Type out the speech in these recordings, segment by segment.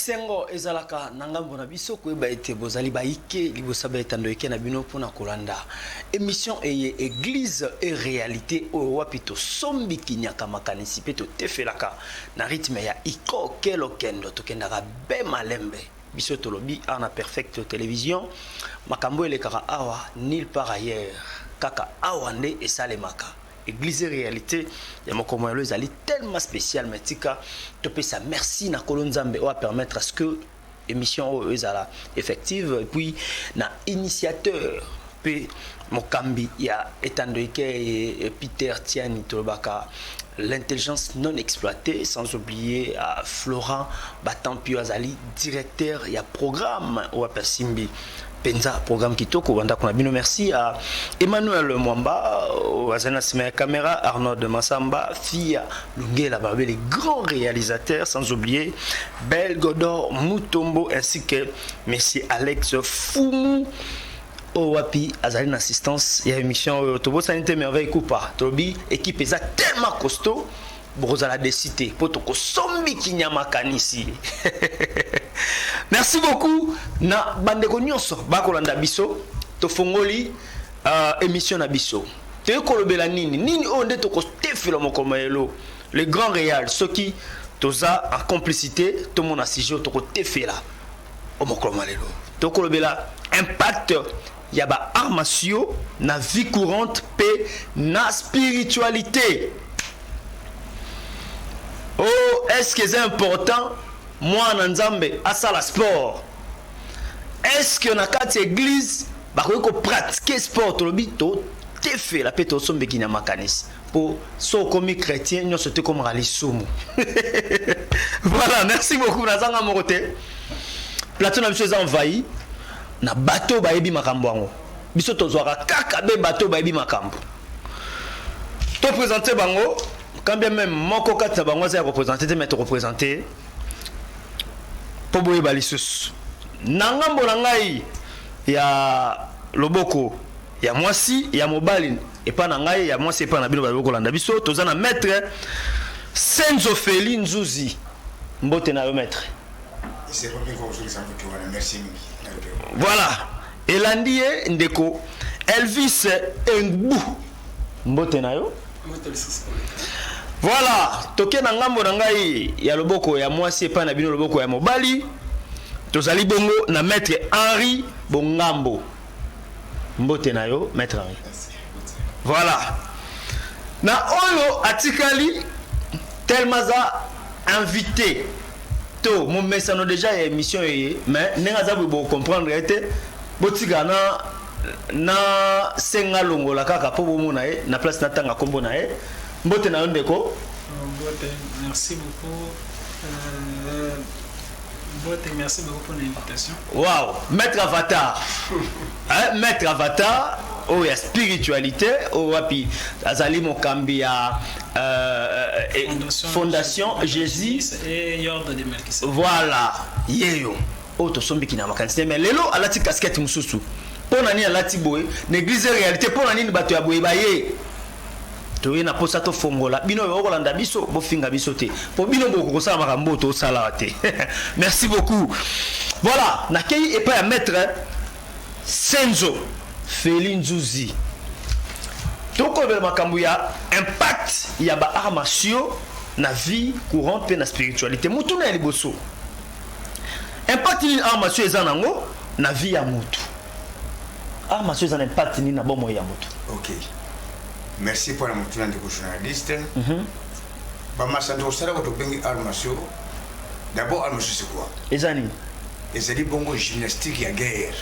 esengo ezalaka na ngambo na biso koyeba ete bozali bayike liboso ya etando eke na bino mpo na kolanda emission eye eglise e réalité oyo wapi tosombi kinyaka makanisi mpe totefelaka Na rythme ya Iko ke lokendo tokendaka be malembe biso tolobi awa na Perfecto Television makambo elekaka awa nulle part ailleurs kaka awa nde esalemaka. Eglise realite ya mokolo moya lelo ezali tellement special mais tika topesa merci na kolo Nzambe oyo a permettre à ce que emission oyo ezala effective et puis na initiateur pe mokambi ya etando ekeye Peter Tiani tolobaka l'intelligence non exploitée sans oublier uh, Florent Batampio azali directeur ya programme oyo apersimbi Penza programme kitoko banda kuna bino merci à Emmanuel Mwamba wazana euh, sima ya camera Arnold Massamba Fia Lungela Babé les grands réalisateurs sans oublier Bel Godor Mutombo ainsi que monsieur Alex Fumu oyo wapi azali na assistance ya émission oyo tobosani te merveille kupa tolobi équipe eza tellement costaud bokozala desi te mpo tokosombi kinya makanisi merci beaucoup na bandeko nyonso bakolanda biso tofongoli uh, émission na biso toyei kolobela nini nini oyo nde tokotefela mokolo mayelo le grand réal soki toza en complicité tomona sujet tokotefela o mokolo malelo tokolobela impact ya ba arts martiaux na vie courante mpe na spiritualite. Oh, est ce que eza important mwana na Nzambe asala sport? Est ce que na kati ya eglise bakoki ko pratiquer sport? Tolobi to tefela mpe tosombeki na makanisi. po so okomi chrétien nyonso te ekomaka lisumu voilà merci beaucoup nazanga moko te plateau na biso eza envahi na bato oyo bayebi makambo yango biso tozwaka kaka be bato oyo bayebi makambo topresente bango kambia meme moko kati na bango aza ya kopresente te mai tokopresente mpo boyeba lisusu na ngambo na ngai ya loboko ya mwasi ya mobali epa na ngai ya mwasi epa na bino bayo kolanda biso toza na maître Senzo Feli Nzuzi mbote na yo maître voilà elandi ye ndeko Elvis Engbu mbote na yo voilà toke na ngambo na ngai ya loboko ya mwasi epa na bino loboko ya mobali tozali bongo na maître Henri Bongambo Mbote na yo Maître Henri. Voilà. Na oyo atikali tellement aza invité to momesano déjà ya émission eye mais ndenge aza boye bocomprendre ye te botika na na senga longola kaka mpo bomona ye na place natanga nkombo na ye mbote na yo ndeko mbote merci beaucoup euh... Mbote, merci beaucoup pour l'invitation. Wow, maître avatar. hein, maître avatar oyo ya spiritualité oyo wapi azali mokambi ya euh, eh, fondation, fondation Jésus et Yorde de Melchizedek. Voilà, yeyo. Oyo tosombiki na makanisi mais lelo alati casquette mosusu. Mpo na nini alati boye? Neglize réalité mpo na nini bato ya boye baye toye na posa tofongola bino oyo bokolanda biso bofinga biso te mpo bino boko kosala makambo oyo tosala te merci beaucoup voilà nakei epai ya maître senzo feli nzuzi tokolobela makambo ya impact ya ba arts martiaux na vie courante mpe na spiritualité motuna ya liboso impact nini arts martiaux eza na yango na vie ya motu arts martiaux eza na impact nini na bomoi ya moto ok merci mpo na motuna ndeko journaliste mm -hmm. bamasano tokosalaka tobengi arts martiaux d'abord arts martiaux c'est quoi eza nini ezali bongo gymnastique ya guerre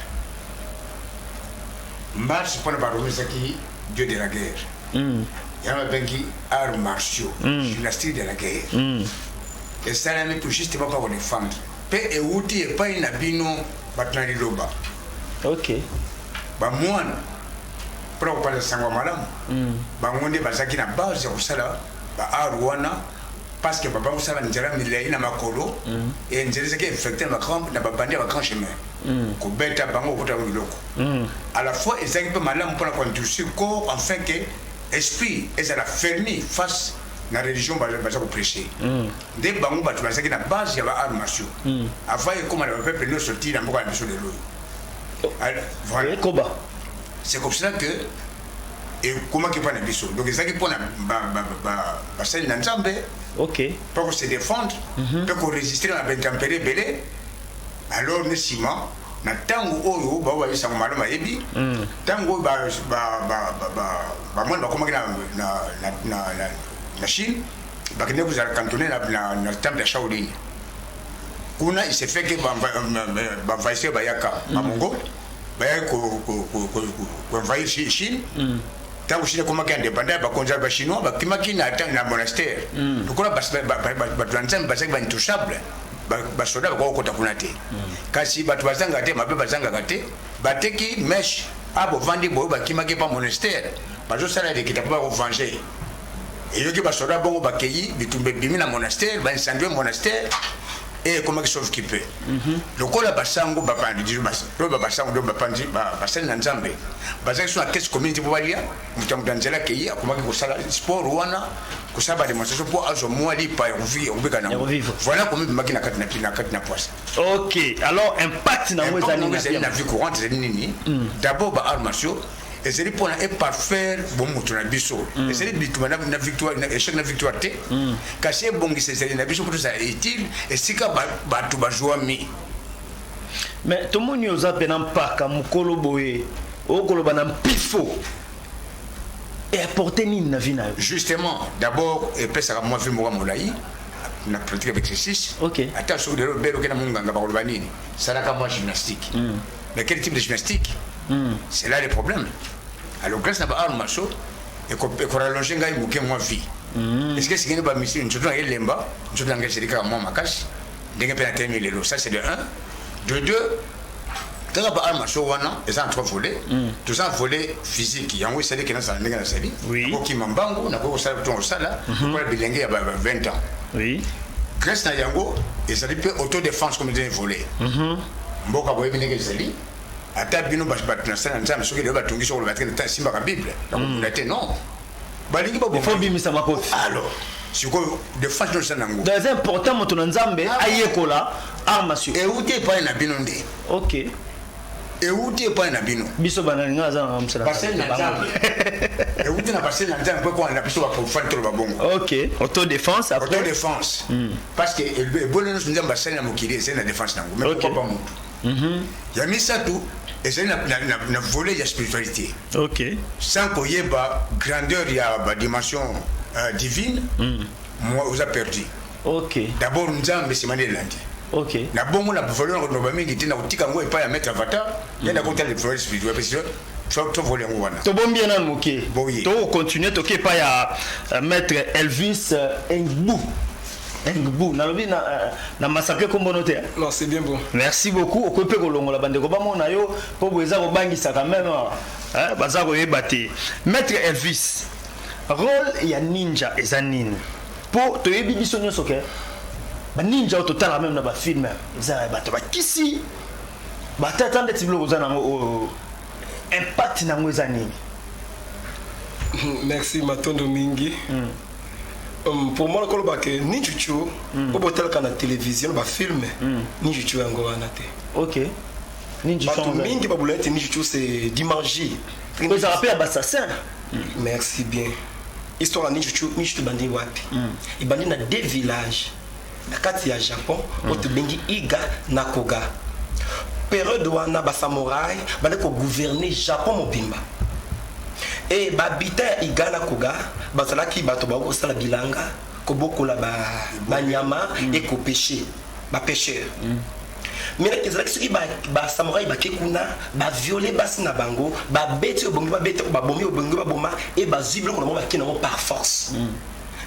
marche mpo na barome ezaki dieu de la guerre mm. yango babengi arts martiaux mm. gymnastique de la guerre mm. esalami tout juste bapakona efandre mpe euti epai na bino bato na liloba ok bamwana mpona kopanza sango ya malamu mm. bango nde bazalaki na base ya kosala baar wana parce que baba kosala nzela milai na makolo mm. e nzela ezalaki infecte na babandi ya bagrand chemin mm. kobeta bango kokota yango biloko à la fois ezalaki mpe malamu mpona kointroduire corps enfin que esprit ezala fermi face na religion baza koprêche Nde bango batu bazalaki na base ya ba arts martiaux mm. avant ekoma na ba peuple nioso ti na mboka na biso lelo oh. voilà. ekoba c'est comme ça que ekomaki mpo na biso donc ezalaki mpo na basali na nzambe okay. mpo ko se défendre mpe mm -hmm. koresiste na baintempere ebele alors ne nsima na ntango oyo bao bayebisango malamu ayebi ntango oyo bamoni bakomaki na chine bakende kozala cantonne na, na, na temple ya shaolin kuna il se fait que banvahisseur bayaka bamongo bayaki koenvahir chine ntango chine ekomaki indépendant ya bakonzi ya bachinois bakimaki na monastère mm. lokola bato ya nzambe bazalaki baintouchable basoda bakoki kokota kuna te mm. kasi bato bazangaka te mabe bazangaka te bateki meshe a ah, bovandi boyo bakimaki mpa monastère bazosala lekita mpo bakovenge Eyoki ba soda bongo bakeyi bitumba ebimi na monastère ba incendie monastère et ekomaki sauve qui peut mhm. lokola basango bapandi dijo loba basango ndio bapandi basali na nzambe bazali so na kesi community mpo balia moto ya moto ya nzela akei akomaki kosala sport wana kosala bademonstration mpo azwa mwa lipa ya kobika nango voilà komi ebimaki na kati na kina kati na poisa ok alors impact nango ezali na vie courante ezali nini mm. d'abord ba arts martiaux ezali mpona eparfaire bomoto na biso mm. ezali bituma na victoire na échec na victoire te mm. kasi ebongisa ezali na biso mpo tozala utile esika bato bazwami mais tomoni oza mpena mpaka mokolo boye okoloba na mpifo eapporte nini na vie na yo justement d'abord epesaka mwa vie moka molai na pratique avec exercice okay. ata soki lelo bele okenda monganga bakoloba nini salaka mwa gymnastique mm. Mais quel type de gymnastique mm. C'est là le problème. Alors grâce à Baal Macho, et qu'on rallonge ngai muke moi vie. Mm. Est-ce que c'est que ba misiri nzoto na elemba, nzoto na ngai c'est ka moi makasi. Ndenge pe na temi lelo, ça c'est de 1. De 2, kaka ba arme macho wana eza na trois volet mm. toza volet physique yango esali kena sala ndenge nasali nakokima mbangu nakoki kosala kutu kosala mhm. lokola bilenge ya 20 ans grèce na yango ezali mpe autodéfense comme eza volet mhm. Mboka boyebi ndenge ezali ata bino bato na sala na nzambe soki lelo batungisi okoloba te nta esimbaka bible nakobunda hmm. te non balingi babomabimisa makofi alors sikoyo defense nyonso na yango eza important moto na nzambe ah ayekola arme sur euti epai na bino nde ok euti epai na bino biso banalinga aza na mosala basali na nzambe euti na basali na nzambe mpo ekolanda biso baprofane toloba bongo ok autodefense autodefense hmm. parce que ebonde nyonso nzambe asali na mokili ezali na défense na yango mais pourquoi pas motu mhm. ya misato ezali na volet ya spiritualité ok sans koyeba grandeur ya badimension euh, divine mhm. moi oza perdu ok d'abord nzambe esimani elandi ok na bongo na volet na koloba mingi te na kotika yango epai ya maître avatar nde nakota le travail spirituel parce que tovoli yango wana tobombi ye nanu moke tokocontinue toke epai ya euh, maître elvis euh, engbu engbu nalobi na, euh, na masape kombono te non c'est bien bon merci beaucoup okoki mpe kolongola bandeko bamona yo mpo boye eza kobangisaka meme baza koyeba te maître elvis role ya ninja eza nini mpo toyebi biso nyonso ke baninja oyo totalaka meme na bafilme eza bato bakisi batata ndeti biloko oza nango oyo oh, impact na yango eza nini merci matondo mingi mm. um, pour moi nakoloba ke ninjuchu mm. oyo botalaka na télévision bafilme mm. ninjuchu yango wana te ok bato mingi babula ete ninjuchu c'est dimangie ezalaka mpe ya bassassin mm. merci bien histoire ya ninjuchu ninjuchu ebandi wapi mm. ebandi na deux villages na kati ya japon mm. oyo tobengi iga na koga periode wana basamurai bande kogouverne japon mobimba e babita ya iga na koga bazalaki bato baoki kosala bilanga kobokola banyama ba mm. ekopeshe bapeshere mm. mais ezalaki soki basamurai bake kuna baviole basi na bango babeti obongi babeta babomi obongi baboma e bazwi biloko na bango bake nango par force mm.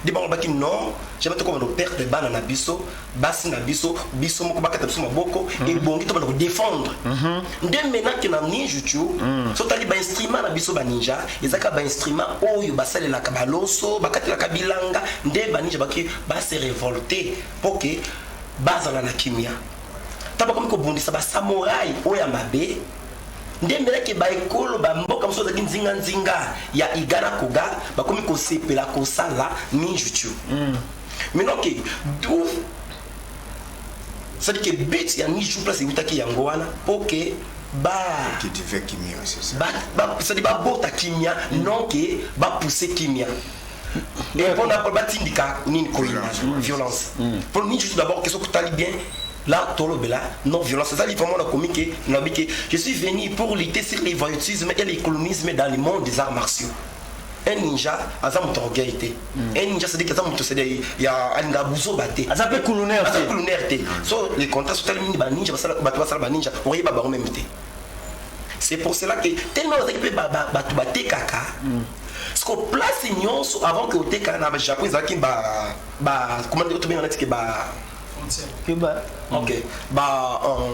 Nde bango balobaki non, jamais tokobanda koperdre bana na biso, basi na biso, biso moko bakata biso maboko, mm. ebongi tobanda kodefendre. Mm-hmm. Nde maintenant ke na ninjuchu, mm. sotali bainstrument na biso baninja, ezaka bainstrument oyo basalelaka baloso, bakatelaka bilanga, nde baninja baki base revolte, mpo ke bazala na kimia. Ntango bakomi kobundisa basamorai oyo ya mabe, Nde mbela ke ba ekolo ba mboka mosusu bazalaki nzinga nzinga ya Igana Koga bakomi kosepela kosala ninjutsu. Mm. Maintenant ke d'où c'est-à-dire que but ya ninjutsu place ewutaki yango wana po ke ba c'est-à-dire babota kimia mm. non ke bapousse kimia et mpo na batindika nini koyina violence mpo nini juste d'abord ke soki otali bien là tolobela non violence eza li vraiment nakomi ke nalobi ke je suis venu pour lutter sur les voyoutisme et les colonisme dans le monde des arts martiaux un ninja aza moto orgueil te un ninja sadiki aza moto sede ya alinga buzoba te aza mpe kulunaire aza kulunaire te so les contrats sotali mingi baninja bato basala baninja oyeba bango meme te c'est pour cela que tellement bazalaki mpe bato batekaka siko place nyonso avant que oteka na japon ezalaki bacommandtobenga natike ba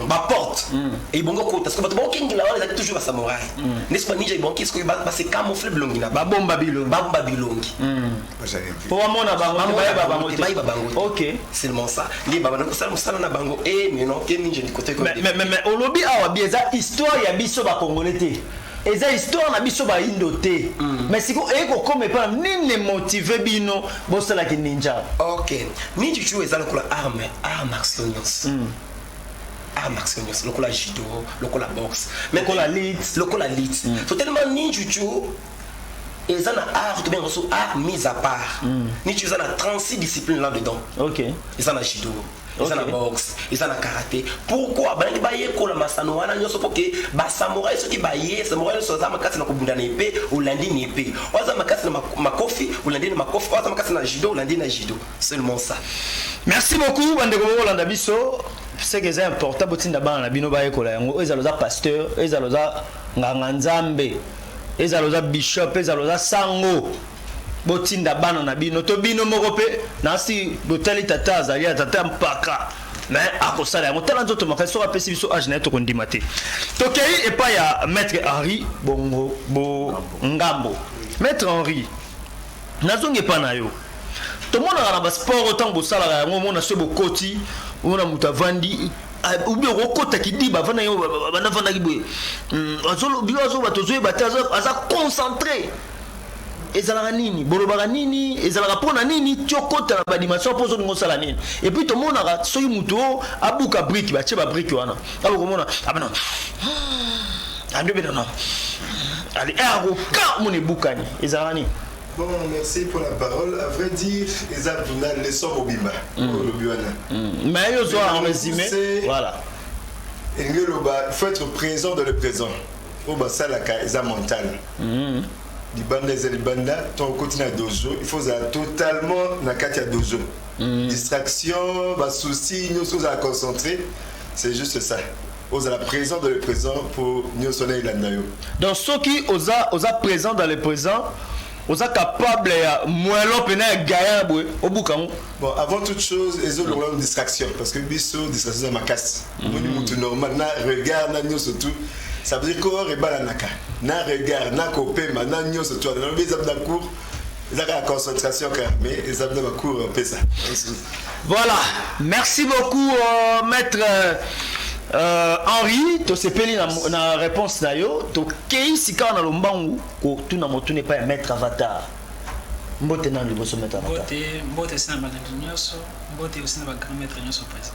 baporte hmm. ebongi okota siko bato baokengela wana ezalaki toujours basamurai hmm. ndesi baninja ebongi sikoyo base camoufle bilongi na babomba bilongi babomba bilongi hmm. po bamona bangobayeba bango bayeba bango ok seulement ça nde babanda kosala mosala na bango e eh, mino te ninja ndikote olobi awa bi eza histoire ya biso bakongole te eza histoire na biso bayindo te mais sikoyo eye kokoma epa nini emotive bino bosala ki ninja ok ninja cucu eza lokola arme art martial nyonso hmm. art martial nyonso lokola judo lokola boxe lokola lit lokola lit hmm. so tellement ninja cucu eza na art to benga so art mise à part hmm. ninja eza na 36 discipline là dedans ok eza na judo eza na boxe eza na karate pourkui balingi bayekola masano wana nyonso mpo ke basamurai soki baye samurai nyonso aza makasi na kobunda na epe olandi na epe oyo aza makasi na makofi olandi na makofi oyo aza makasi na judo olandi na judo seulement ça merci beaucoup bandeko bokolanda biso seke eza important botinda bana na bino bayekola yango oyo ezala oza pasteur ezala oza nganga nzambe ezala oza bishop ezala oza sango botinda bana na bino to bino moko mpe nasi botali tata azali ya tata mpaka me akosala yango tala nzoto makasi soki apesi biso age na ye tokondima te tokei epai ya maître henri bongo bongambo maître henri nazongi epai na yo tomonaka na basport ntango bosalaka yango omona soki bokoti omona moto avandi obi okokota kidiba avanda yo banda avandaki boye hmm, bino azoba tozoyeba te aza concentré ezalaka nini bolobaka nini ezalaka mpo na nini tiokota na badimension mpo ozolinga osala nini epuis tomonaka soki moto oyo abuka brike batie babrike wana abo komona abana ah, andobedana ah, ali eh, akoka mona ebukani ezalaka nini Bon, merci pour la parole. À vrai dire, les abdominales, les sommes au bimba. Mm. Mm. Mais ils ont en résumé. Voilà. Il faut être présent dans le présent. Au bas, ça, la ils ont mental. Mm. libanda eza libanda ntango okoti na dozo il faut ozala totalement na kati ya dozo mm. distraction basouci nyonso ozala concentré c'est juste ça ozala présent dans le présent mpo nyonso na elanda yo donc soki oza, oza présent dans le présent oza capable ya moelo mpena ya gaillard boye obuka yango bon avant toute chose ezolongola mm. distraction parce que biso distraction eza makasi omoni mm. mutu normal na regard na nioso tout ça veut dire corps ebalanaka na regard na kopema na nioso tout wana nalobi eza na cours eza kaka concentration kaka mais eza na bacours pesa voilà merci beaucoup euh, maître euh... Euh, henri tosepeli na, na réponse na yo tokei sikawa na lombangu kotuna motuna epai ya maître avatar mbote nanu liboso maître avatar mbote mbote esi na bandeko nyonso mbote osi na bagrand maître nyonso présent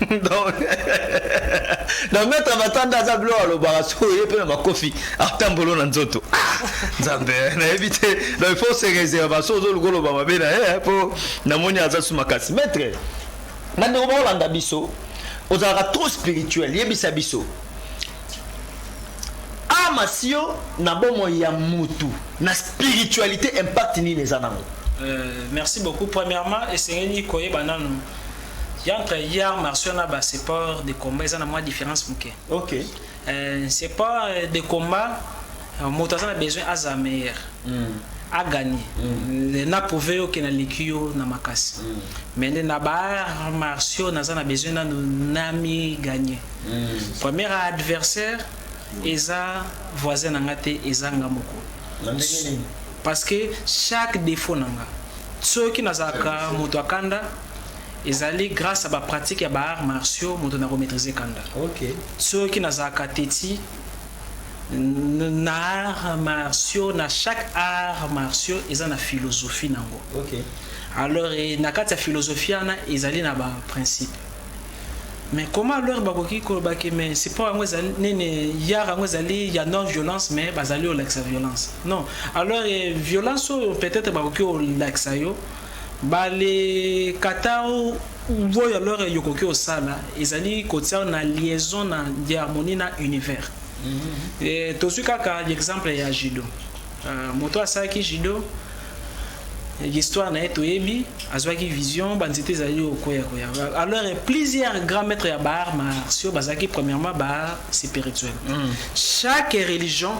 donc na maître matanda aza bilo alobaka sikoyo ye mpe na makofi atambolo na nzoto ah, nzambe eh, nayebi te donc il faut se réserve baso ozoluka oloba mabe na ye mpo eh, namoni aza su makasi maître bandeko bakolanda biso ozalaka trop spirituel yebisa biso ama sio na bomoi ya mutu na spiritualité impact nini eza nango euh, merci beaucoup premièrement esengeli koyeba nanu Ya entre ya arts martiaux na ba support de combat eza na mwa difference muke. OK. Euh, c'est pas euh, de combat euh, moto aza na besoin aza meilleur. Mm. a gagné mm. na prouvé yo ke na leki yo na makasi mm. mais nde na ba martiaux naza na besoin nanu nami gagné mm. premier adversaire mm. eza voisin na nga te eza nga moko parce que chaque défaut na nga soki nazalaka moto akanda Ezali grace à ba pratique ya ba arts martiaux moto nako maitriser kanda. Okay. Soki nazalaka teti na arts martiaux na chaque arts martiaux eza na philosophie nango. Okay. Alors eh, na kati ya philosophie wana ezali na ba principe. Mais comment alors bakoki koloba ke mais sport yango ezali nini yar yango ezali ya non violence mais bazali olakisa violence non alors eh, violence oyo peut-être bakoki olakisa yo Ba le kata oyo alors yokoki osala ezali kotia na liaison na diharmonie na univers. Tozui kaka l'exemple ya judo. Moto oyo asalaki judo histoire na ye toyebi azuaki vision ba nzete ezali kokueya kueya. Alors plusieurs grands maitres ya ba arts martiaux bazalaki premièrement ba spirituels. Chaque religion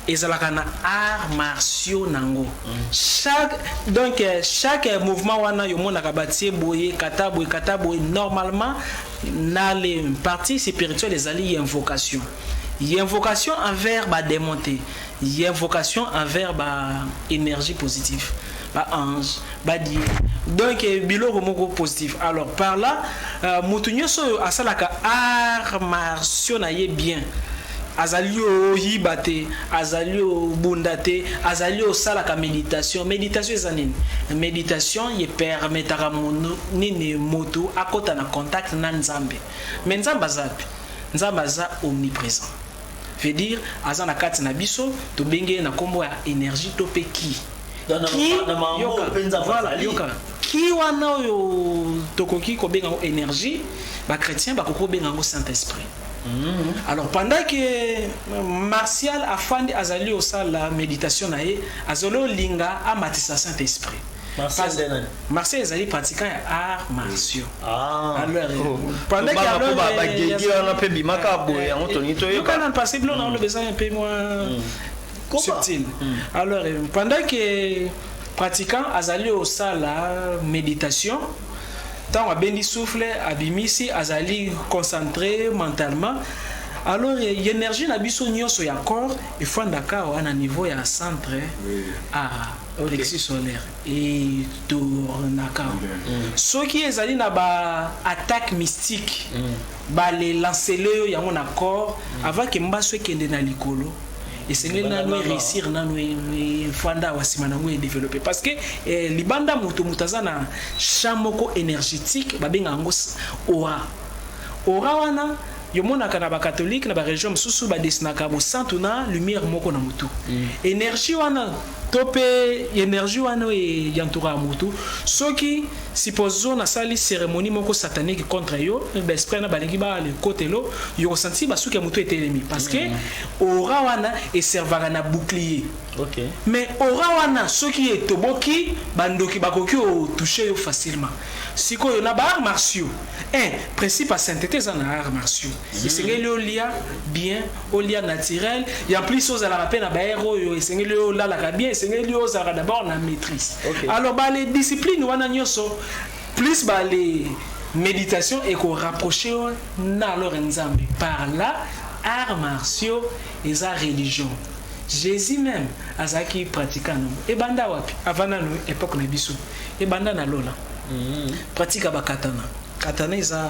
ezalaka na art martiaux nango chaque donc chaque mouvement wana yo monaka batie boye kata boye kata boye normalement na le partie spirituelle ezali invocation invocation envers ba démonter invocation envers ba énergie positive ba ange ba die donc eh, biloko moko positif alors par là euh, moto nyonso oyo asalaka art martio na ye bien azali oyiba te azali obunda te azali osalaka méditation méditation eza nini méditation ye permetaka nini moto akɔta na contact na nzambe mais nzambe aza mpe nzambe aza omniprésent veut dire aza na kati na biso tobengi ye na kombo ya energie to pe ki ki wana oyo tokoki kobenga yango energie bachrétien bakoki kobenga yango saint esprit mhm. alors pendant que euh, martial afandi azali osala méditation na ye azali olinga amatisa saint esprit Marseille nde nani? Marseille ezali pratiquant ya arts martiaux. Ah. Alors, oh. pendant que Tobanga alors, po ba- eh, bagege ya- wana mpe bimaka eh, boye, eh, yango tolingi eh, toyeba. yoka nanu, parce que bino na oloba eza un peu moins subtil. Alors, eh, pendant que pratiquant azali osala méditation ntango abendi souffle abimisi azali concentré mentalement alors eh, énergie na biso nyonso ya corps efandaka awa na niveau ya centre ah Alexis Soler etournaka soki ezali na ba attaques mystiques ba le lancele yo yango na corps avant que mbasu ekende na likolo esengeli nanu e reussir nanu efanda awa sima nango e developper parce que libanda moto moto aza na champ moko energetique babenga yango aura aura wana yomonaka na ba catholique na ba religion mosusu ba dessinaka mosantu na lumière moko na motu energie wana to pe energie wana oyo e entouraka mutu, soki supposons na sali ceremonie moko satanique contre yo, ba esprits wana ba lingi ba ya lekotelo, yo ko sentir ba suki ya mutu etelemi parce que aura wana e servaka na bouclier, mais aura wana soki e toboki ba ndoki ba koki ko toucher yo facilement, sikoyo na ba arts martiaux, un, principe ya saintetes eza na arts martiaux, esengeli o lia bien, Olia naturel et en plus ozalaka pe na ba heure oyo esengeli yo olalaka bien esengeli yo ozalaka d'abord na maîtrise okay. alors ba les disciplines wana nyoso plus ba les méditation et ko rapprocher na alors nzambe par là arts martiaux et sa religion Jésus même azaki pratiquant no ebanda wapi avana no époque na biso ebanda na lola mm -hmm. pratique ba katana katana eza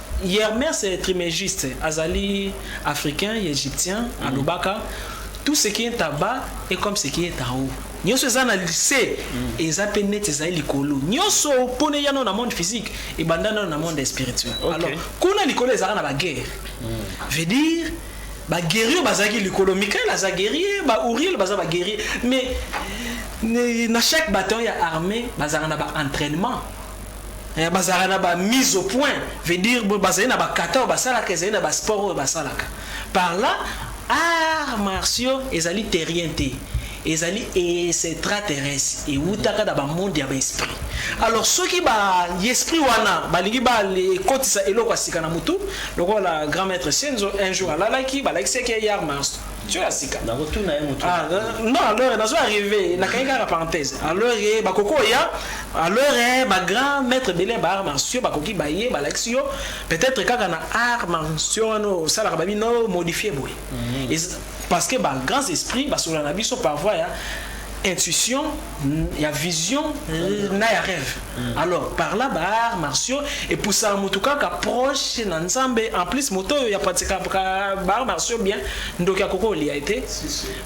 Yermes Trimegiste azali africain ya egyptien mm. alobaka tout ce qui est en bas est comme ce qui est en haut nyonso eza na lise mm. eza mpe neti ezali likolo nyonso mpona eya nano na monde physique ebanda nano na monde spirituel okay. alors kuna likolo ezalaka na baguerre mm. veut dire baguerrier bazalaki likolo mikael aza guerrier bauriel baza baguerrier mais na chaque bataillon ya armée bazalaka na baentraînement Eh, bazalaka na ba mise au point veut dire bazali na bakata oyo basalaka ezali na basport oyo basalaka par là art martiaux ezali terrien te ezali extraterrestre ewutaka na bamonde ya baesprit alors soki baesprit wana balingi baekotisa eloko ya sika na motu lokola grand maître senzo un jour alalaki balakisaki ye yar martiaux tio ya sika nakotuna ye moto ah, non alors nazo arrive nakangi kaka parenthèse alors ye bakoko ya alors eh, ba grand maître bele ba art martiaux bakoki baye balakisi yo peut-être kaka na art martiaux wana osalaka babino modifie boye mm. parce que ba grands esprits basola na biso par voie ya intuition ya vision euh, na ya rêve mm. alors par là ba arts martiaux epusaka motu kaka proche na nzambe en plus moto oyo yapatikaka ba arts martiaux bien ndoki akoki olia ye te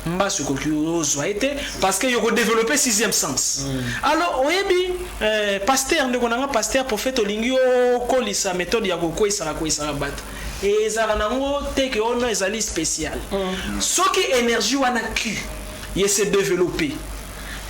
mbasi okoki ozwa ye te parce que yokodeveloppe sixième sens mm. alors oyebi euh, paster ndeko na nga paster prophète olingi okolisa méthode ya kokweisaka kweisaka bato ezalaka nango te ke ono ezali spécial mm. soki énergie wana q ye se developpe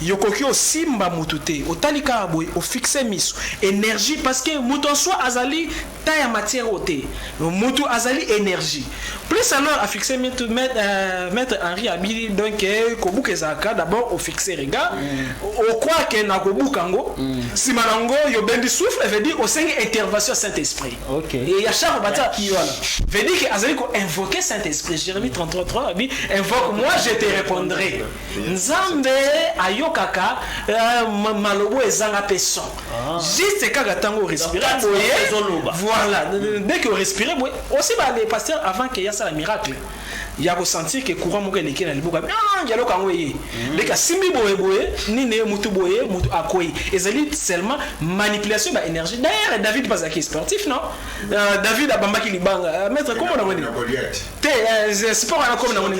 yokoki osimba mutu te otali kaka boye o fixe misu energie parce que mutu en soi azali ta ya matière oyo te mutu azali energie plus alors a fixe mitu euh, maître Henri abili donc euh, kobuka ezalaka d'abord o fixe regard mm. o croire que na kobuka ngo mm. sima na ngo yo bendi souffle veut dire osengi intervention Saint-Esprit Okay. Et ya Charles Bata Vedike azali ko invoquer Saint-Esprit. Jérémie 33:3 a dit invoque moi je te répondrai. Nzambe ayokaka euh, malobo ezanga pe son. Ah. Juste kaka tango respirer boye. Voilà, dès que respirer boye, aussi ba les pasteurs avant que ya sala miracle. Mm. ya ko sentir que courant moko eleki na liboka ah, dialogue yango eye mhm. ndeke asimbi boye boye nini ye mutu boye mutu akwei ezali seulement manipulation ba énergie d'ailleurs david mpe azalaki sportif non euh, david abambaki libanga euh, maître kombo na ngoni te euh, sport wana kombo na ngoni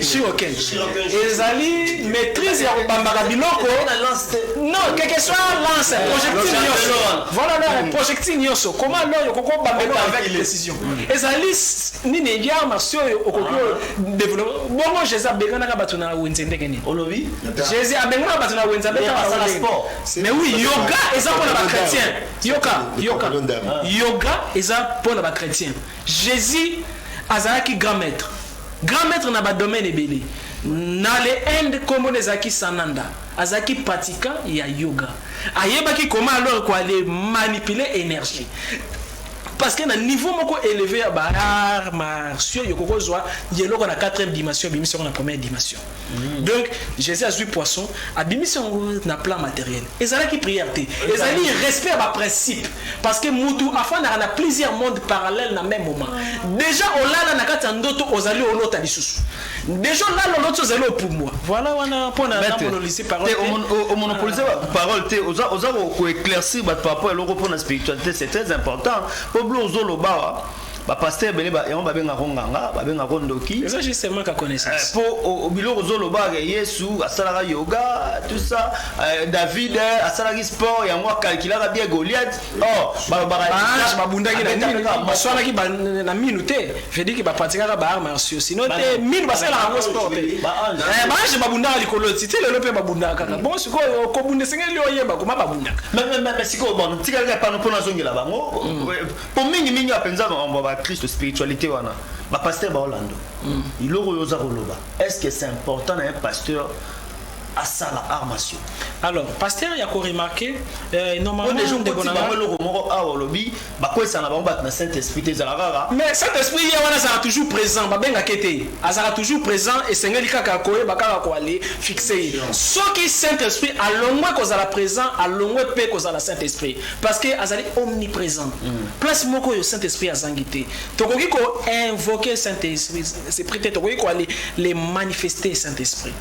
shiroken eh, ezali maîtrise ya kobambaka biloko non quelque soit lance projectile nyonso voilà projectile nyonso comment alors okokobamba avec précision ezali nini ya marsi oyo okoki ah. develope bongo jesus abenganaka bato na wenze ndenge nini olobi jesus abenganaka bato na wenze abetaka sport mais oui yoga eza mpona bachrétien yoka yoka yoga eza mpona bachrétien jésus azalaki grand maître grand maître na badomaine ebele na le inde nkombo na ezalaki sananda azalaki pratiquant ya yoga ayebaki koma alors koale manipule énergie Parce que na niveau moko eleve ya ba arts martiaux yo koko zwa yeloko na 4e dimension bimisi yango na première dimension. Mm. Donc Jésus a azui poisson abimisi yango na plan matériel. Ezalaki prière te. Ezali respect ya ba principe parce que mutu afandaka na plusieurs mondes parallèles na même moment. Déjà olala na kati ya ndoto ozali olota lisusu. Deja olala oloti ozali opumbwa. Voilà wana mpo na na monolosi parole te. O monopolise ba parole te. Oza oza ko éclaircir bato par rapport eloko mpo na spiritualité c'est très important. Mpo blo ozo lobawa ba pasteur ebele ba yango babengaka ngo nganga babengaka ngo ndoki eza juste manque ya connaissance mpo eh, biloko ozo lobaka yesu asalaka yoga tout ça eh, david eh, asalaki sport yango akalkilaka bien goliath Oh, babundaki na nini baswanaki na minu te vediki bapratikaka baart martio sino te minu basalelaka yango sport te eh, baange babundaka likolo ti ti lelo mpe babundaka kaka bon sikoyo kobunda esengeli oyeba koma babundaka sikoyo bon tikali kaka pano mpo nazongela bango mpo mm. eh, mingimingi ya mpenza makambo ya bakristo spiritualité wana bapaster baolando mm. iloko oyo oza koloba est ce que c'est important na ye pasteur asala art martiaux alors pasteur ya ko remarquer euh, normalement oh, ndeko na bango eloko moko awa olobi bakwesa na bango bato na saint esprit te ezala kaka mais saint esprit ye wana azala toujours présent babengaka ye te azala toujours présent esengeli kaka koyeba kaka koale fixe ye soki saint esprit alongwe kozala présent alongwe mpe kozala saint esprit parce que azali omniprésent mm. place moko oyo saint esprit azangi te tokoki ko invoquer saint esprit te tokoki koale le manifester saint esprit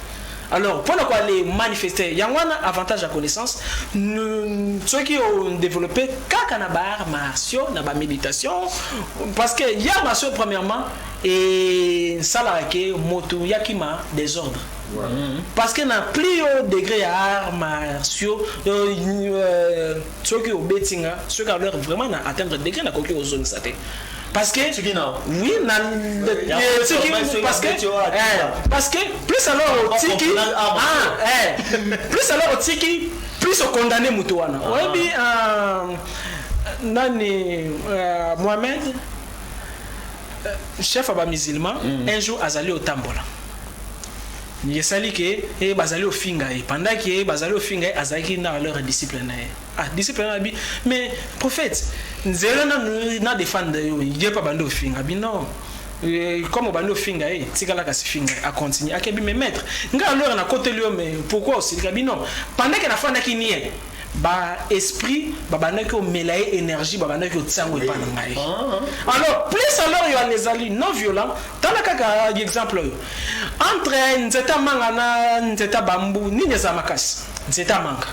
Alors pona ko aller manifester yango wana avantage ya connaissance soki o developper kaka na ba arts martiaux na ba méditation parce que ya martiaux premièrement et nsalaka ke moto yakima désordre Voilà. Mm-hmm. parce que na plus haut degré ya art martiaux euh, euh, soki obeti nga soki alor vraiment na atteindre degré nakoki kozongisa te Parce que tu dis non. Oui, na euh, tiki parce que eh, parce que plus alors tiki ah, ah eh plus alors tiki plus au condamné mutu wana. Ah. Oyebi euh, nani euh, Mohamed euh, chef aba musulman mm. un jour azali otambola esali ke ye eh, bazali ofinga ye pendant ke ye eh, bazali ofinga ye azalaki na leur disciple na ye Ah, disciple na bi, mais prophète, nzela na na defendre yo, je pas bando finga bi non. Euh, comme obandi ofinga ye eh, tikala kasi finga acontinue akebi me maître ngai alora nakoteli yo mais pourquoi osilika bino pendant ke nafandaki nie baesprit babandaki omela ye énergie babandaki otia yango epai na ngai ah, ah. alors plus alors yoane ezali non violent tala kaka exemple oyo entre nzete amanga na nzete bambu nini eza makasi nzete amanga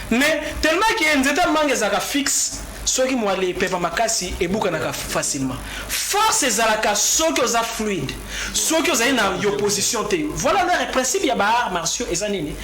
Mais tellement que nzete ya manga ezalaka fixe, soki muali epepa makasi ebukanaka facilement. Force ezalaka soki oza fluide, soki ozali na y'opposition te. Voilà leur principe ya ba arts martiaux eza nini?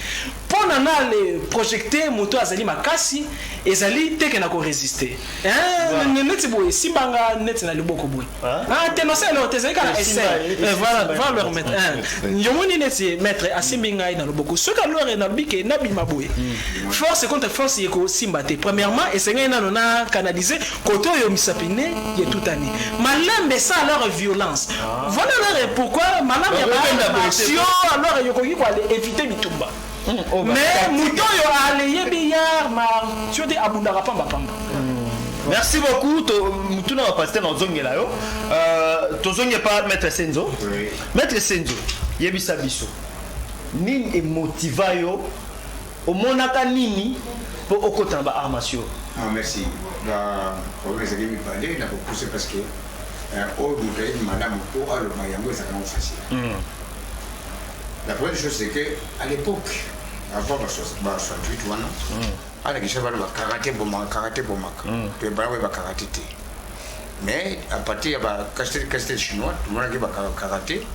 Pona na le projecter moto azali makasi ezali te que nako resister. Eeh neti boye, simba nga neti na liboko boye. Ah, te na selo te ezali kaka essai eh, voilà va leur mettre un yo moni neti maître asimbi ngai na loboko soki alore na lobi ke na bima boye hmm. force contre force ye kosimba te premièrement esengeli nano na canaliser koto oyo misapine ye tout année malembe ça alors violence ah. voilà alors pourquoi malambe ya ba alors yo koki ko éviter bitumba mais moto oyo aleye billard na tio te abundaka pamba pamba merci beaucoup motuna wa pasteur na ozongela yo euh, tozongi epa maître senzo maître senzo yebisa biso nini emotiva yo omonaka nini mpo okota na baart martiaux ah, merci problème ezali mibale na kopuse parce que euh, oyo moto ayebi malamu mpo aloba yango ezalaka yango facile hmm. La première chose c'est que à l'époque avant ba 68 wana ala kisa bana ba karaté bomaka karaté bomaka pe bana ba karaté te mais à partir ya ba castel castel chinois tout le monde qui ba karaté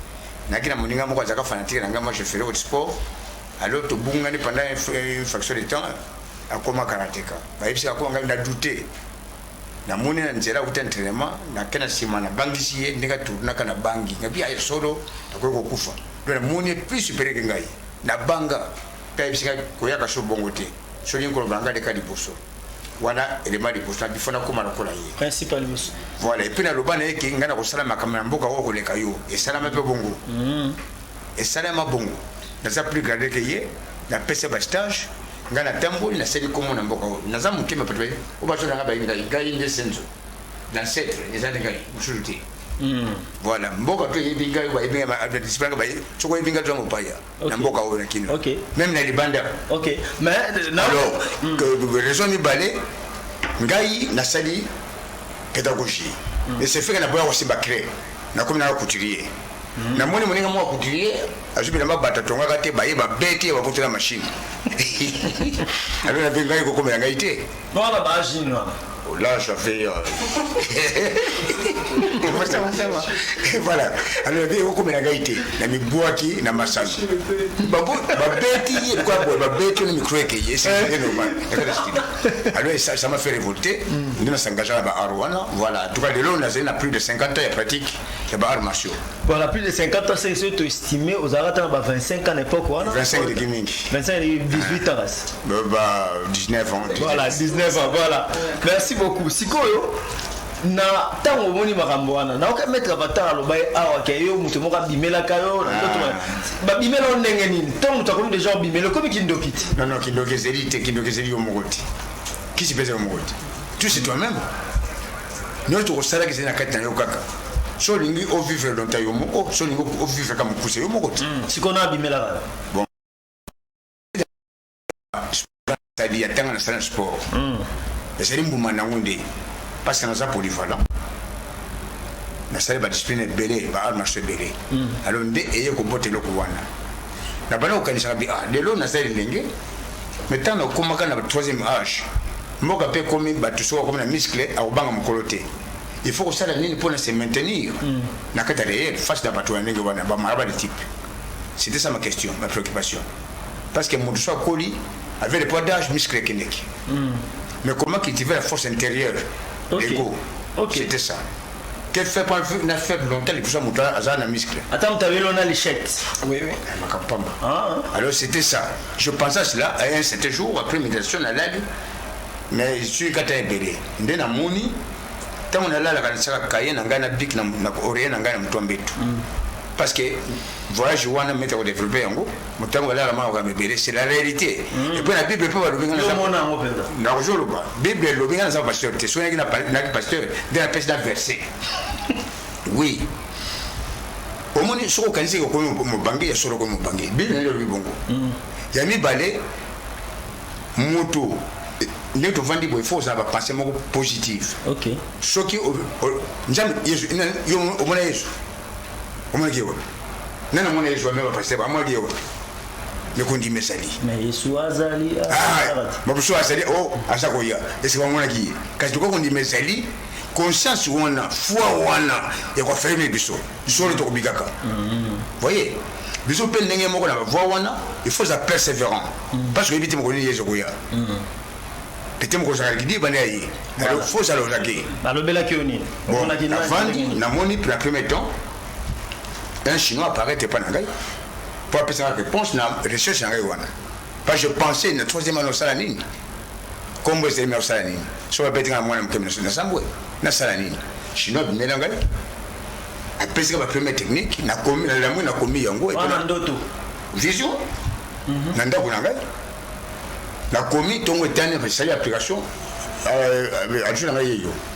naki na moninga moko azaka fanatique na ngai moi je ferai au sport alors tobungani pendant une fraction de temps akoma karateka bayebisi akoma ngai na doute namoni na nzela akuti entraînement nake na nsima nabangisi ye ndenge atournaka na bangi nabi aye solo nakoki kokufa do namoni ye plus superieur ke ngai nabanga mpe ayebisi ngai koyaka so bongo te solingi koloba na ngai leka liboso wana elema liboso nabi fo nakoma lokola ye principe ya liboso voilà epuis naloba na ye ke ngai nakosala makambo na mboka oyo koleka yo esalama mpe bongo mm. esalama bongo naza plus garde ke ye napesa bastage nga na tamboli na seli komo na mboka oyo naza moke me bato oyo baso na nga bayi ngai ngai nde senzo dancetre eza nde ngai mosusu te hmm. voilà mboka to eyebi ngai bayebi ngai baye soko oyebi ngai tozanga opaya na mboka oyo na kino meme na libanda alors hmm. raison mibale ngai nasali pédagogie hmm. esefeka na boya kosimba cré nakomi naka couturier namoni moninga moko couturier azwi bilamba bato atongaka te baye babeti ye bakoti na mashine alona mpe ngai kokomela ngai te wana baajini wana là j'avais euh, voilà alors ebi ekokomela ngai te na mibwaki na masano babeti ye lokola boye babeti na micro ekeye esee normal alors ça m'a fait révolter nde nasangagea na baaro wana voilà en tout cas lelo nazali na plus de 50 ans ya pratique ya ba arts martiaux voilà plus de 50 ans c'est surtout estimé aux arts dans 25 ans n'importe quoi 25 de gaming 25 et 18 ans bah, bah 19 ans 19. voilà 19 ans voilà merci beaucoup sikoyo na ntango omoni makambo wana naoka metre batala aloba ye awa ah, ke yo moto moko abimelaka yo na ndoto ah. babimela yo ndenge nini ntango moto akomi deja obimela okomi kindoki te non non kindoki ezeli te kindoki ezeli yo moko te kisi mpe eza yo moko te tu c'est toi même Nionso okosalaka ezali na kati na yo kaka so olingi o vivre longtemps yo moko so olingi o vivre kaka mokuse yo moko te hmm, sikoyo na abimelaka yo bon sali ya tanga na sala sport hmm. ezali mbuma na yango nde parce que naza polyvalent nasali badiscipline ebele ba art marché ebele hmm. alors nde eye kobota eloko wana na bana kokanisaka bi ah lelo nasali ndenge mais ntango nakomaka na troisième âge Mboka pe ekomi batu soki akomi na muscle akobanga mukolo te il faut kosala nini pona se maintenir na kati ya reel face na batu ya ndenge wana ba maraba de type c'était ça ma question ma préoccupation parce que mutu so akoli avec le poids d'âge muscle ekendeki mais comment cultiver la force intérieure okay. l'ego okay. c'était ça quel fait pas na fait longtemps liboso mutu aza na muscle ata mutu abeli ona lichette oui oui makambo pamba alors c'était ça Je pense à cela à un certain jour après méditation na lali mais suis kata ebele nde na moni tango na lala kana saka kaye na ngai na bik na na oreille na ngai na mutua mbetu mm. parce que voyage wana meta ko développer yango mutango lala ma ka mebele c'est la réalité mm. et puis la bible peut balobi ngana mona ngo penda na ko jolo ba bible lobi ngana sa pasteur te soyaki na na pasteur de la peste d'un verset oui omoni soki okanisi eke okomi mobange ya solo okomi mobange biblia nde olobi bongo mm. ya mibale moto nde tovandi boye fo ozala bapense moko positive soki nzambe yesu omona yesu omonaki ye wapi nani amona yesu amema pasitebe amonaki ye wapi mikondima ezali bamosusu azali o aza koya esika bamonaki ye kasi tokoki kondima ezali conscience wana foi wana ya ko fermer biso solo toko bikaka mm-hmm. voyez biso pe ndenge moko na ba voix wana il faut za persévérant mm-hmm. parce que yebi te moko ni yezo koya pete moko ozalaki di bana ye alors faut za lozaki balobelaki yo nini bon avandi namoni pour la première temps un chinois apparaît epai na ngai mpo apesaka réponse na recherche na ngai wana Pas je pensais na troisième année osala nini? Kombo ezali mais osala nini? Soki babeti nga na mwana moke na sambwe nasala nini? Chinois bimela ngai apesi nga ba premier technique na komi na lamu na komi yango et na ndoto vision mhm. na ndako na ngai na komi tongo etani esali application euh, euh, adjoint na ngai yeyo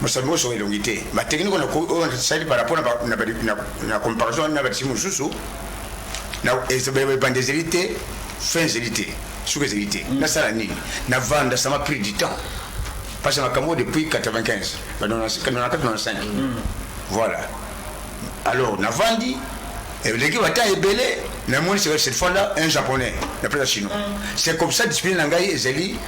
Mosapi moso elongi te. Ba technique na ko oyo sali par rapport na ba na na comparaison na ba timu susu na ezebe ba bande zeli te fin zeli te suka zeli te na sala nini na vanda ça m'a pris du temps parce que makambo depuis 95 ba 94 95 voilà alors na vandi eleki bata ebele na moni cette fois là un japonais na pesa chinois c'est comme ça discipline na ngai ezali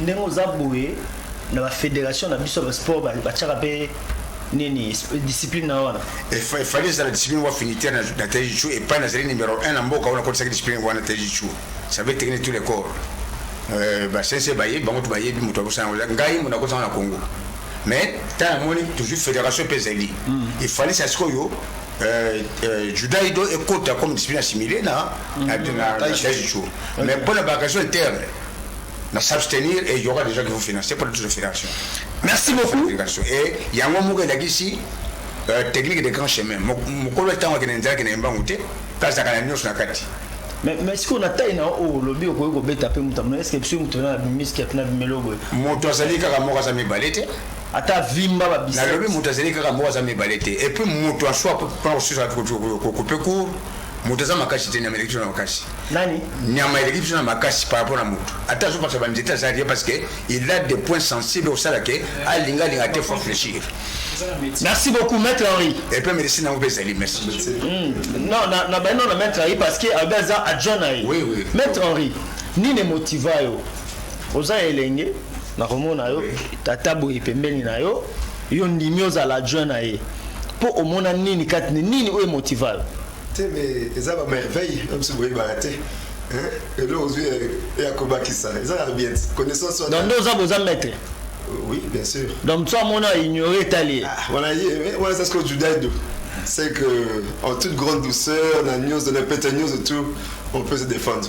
ndenge oza boye na ba federation na biso ba sport ba ba chaka pe nini discipline na wana efali ezala discipline wa finiter na, na tejichu epai nazali numero 1 na mboka oyo nakotisaki discipline wana tejichu savait technique tous les corps euh, basense bayebi bango to bayebi moto akosana yango ngai moto akosana na congo mais ntango amoni toujours fédération mpe ezali efalisa sikoyo Euh, euh, juda ido ekota comme discipline assimile na taisico mm. mais mpo na bacation interne na s'abstenir et yoka déjà qu'il faut financer pour toute fédération merci beaucoup et yango moko elakisi euh, technique de grand chemin mokolo ntango akende nzalaki na embangu te kazaka na nyonso na kati mais mais sikoyo na tai na oyo olobi okoki kobeta mpe moto amona eske biso moto na bimiski apena bimelo boye moto azali kaka moko aza mibale te Ata avimba ba biceps. Nalobi mutu azali kaka moko aza mibale te et puis mutu en soi pona kosusa ko couper court mutu aza makasi te nyama eleki biso na makasi. Nani? Nyama eleki biso na makasi par rapport na mutu. Ata azo bakisa ba nzete aza rien parce que il a des points sensibles osala ke alinga linga te faut réfléchir. Merci beaucoup maître Henri. Et puis merci na obe zali merci. Mm. Non na na ba non na maître Henri parce que aza adjoint na ye. Oui oui. Maître Henri nini motiva yo oza elenge nakomona yo tata boye pembeni na yo yo ndimi ozala adjoint na ye mpo omona nini kati nini oyo emotiva yo te me eza bamerveille na biso boyebaka te eloko ozwi ya kobakisa eza ya bien connaissance wana nde oza boza maître oui bien sûr donc so amona aignore etali ye ah, wana ye wana eza sikoyo judaido c'est que en toute grande douceur na nyonso na pete nyonso tout on peut se défendre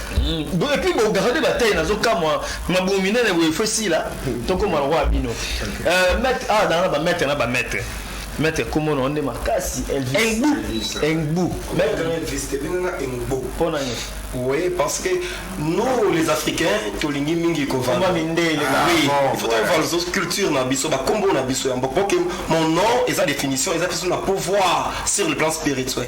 Boye puis bo garder ba taille nazo kamwa mabumu minene boye faut sila tokoma lokola bino euh, maître ah dans ba maître na ba maître maître kombo na nde makasi elvis engbu maître elvis te benga engbu pona nini Oui, parce que nous, les Africains, tolingi mingi kovanda. Oui, il faut qu'on va aux cultures na biso, ba combo na biso yambo. Ok, mon nom et sa définition, ils ont le pouvoir sur le plan spirituel.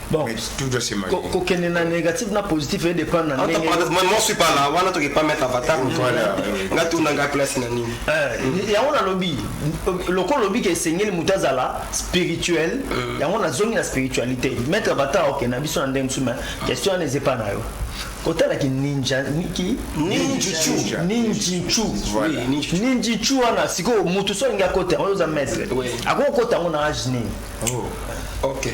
Bon, mais tout doit se marier. Ko kende na négatif na positif et dépend na ndenge. Moi moi suis pas là, wana toki pas mettre avatar. Voilà. Nga tout na nga place na nini. Eh, ya wana lobi. Loko lobi ke sengeli mutazala spirituel. Euh. Ya wana zongi na spiritualité. Mettre avatar ok na biso na ndenge musu mais question n'est pas na yo. otalaki ninja niki ninjichu ninjichu ninjichu wana sikoyo motu so alingi akota yango oza maître akoki okota yango na age nini oh. ok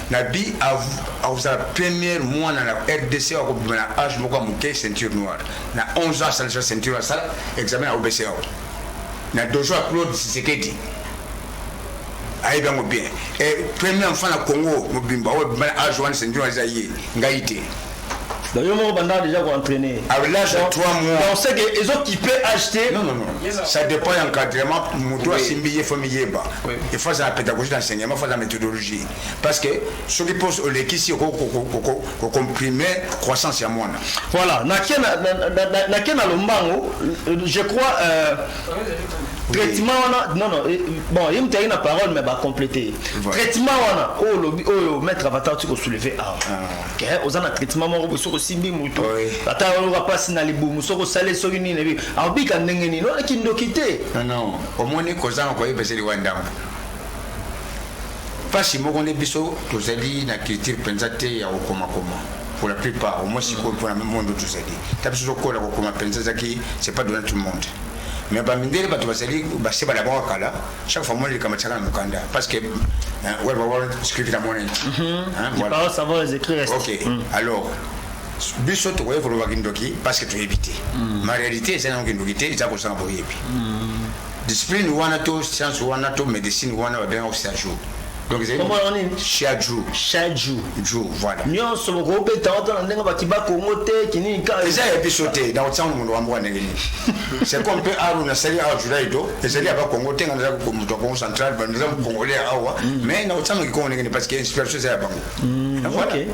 Nabi akozala première mwana na rdc oyo akobima na age moko ya moke ceinture noire na 11 ans asalisa ceinture asala examen ya obc ao na dojo ya claude sisekedi ayebi yango bien e premier enfant na congo mobimba oyo abima na age wana ceinture eza ye ngai te donc yo moko banda déjà koentraîne à l'âge de 3 mois on sait que ezo kipe acheter non non non ça dépend ya encadrement moto asimbi ye faut miyeba il faut azala pédagogie d'enseignement faut azala méthodologie parce que soki pose olekisi okoki kocomprime croissance ya mwana voilà nake na, na, na, na, na, na lombango je crois euh, traitement wana non non eh, bon ye moto ayaki na parole mais bacomplete traitement wana oyo olobi oyo maître avatar ti kosoulever awa ah. eh, oza na traitement moko boye soki osimbi moto ata oyoka mpasi na libumu soki osali soki nini ebi akobika ndenge nini oyo kindoki te omoni kozanga koyeba ezeli wa ndambo Pasi moko nde biso tozali na culture penza te ya kokoma koma pour la plupart au moins sikoyo mpona monde tozali ta biso tokola kokoma penza ezaki c'est pas donné tout le monde mais bamindele bato bazali base balabaka kala chaque fois mwana likambo tiaka na mokanda parce que web world script na mwana ok alors biso tokoki kolobaki ndoki parce que toyebi te ma réalité eza nango kindoki te eza kozanga boyebi Discipline wana to science wana to medicine wana ba benga Xiaju. Donc c'est Kombo yango nini? Xiaju. Shaju. Ju voilà. Nyonso bokobeta wata na ndenge bati ba Congo te kinini ka. Eza ya biso te na otsanga mundu wa mboka ndenge nini. C'est comme pe aru na sali awa Julai do ezali ya ba Congo te nga naza ko mutu wa Congo central ba naza ko Congolais ya awa mais na otsanga kikongo ndenge nini parce que inspiration eza ya bango. Na voilà. ok.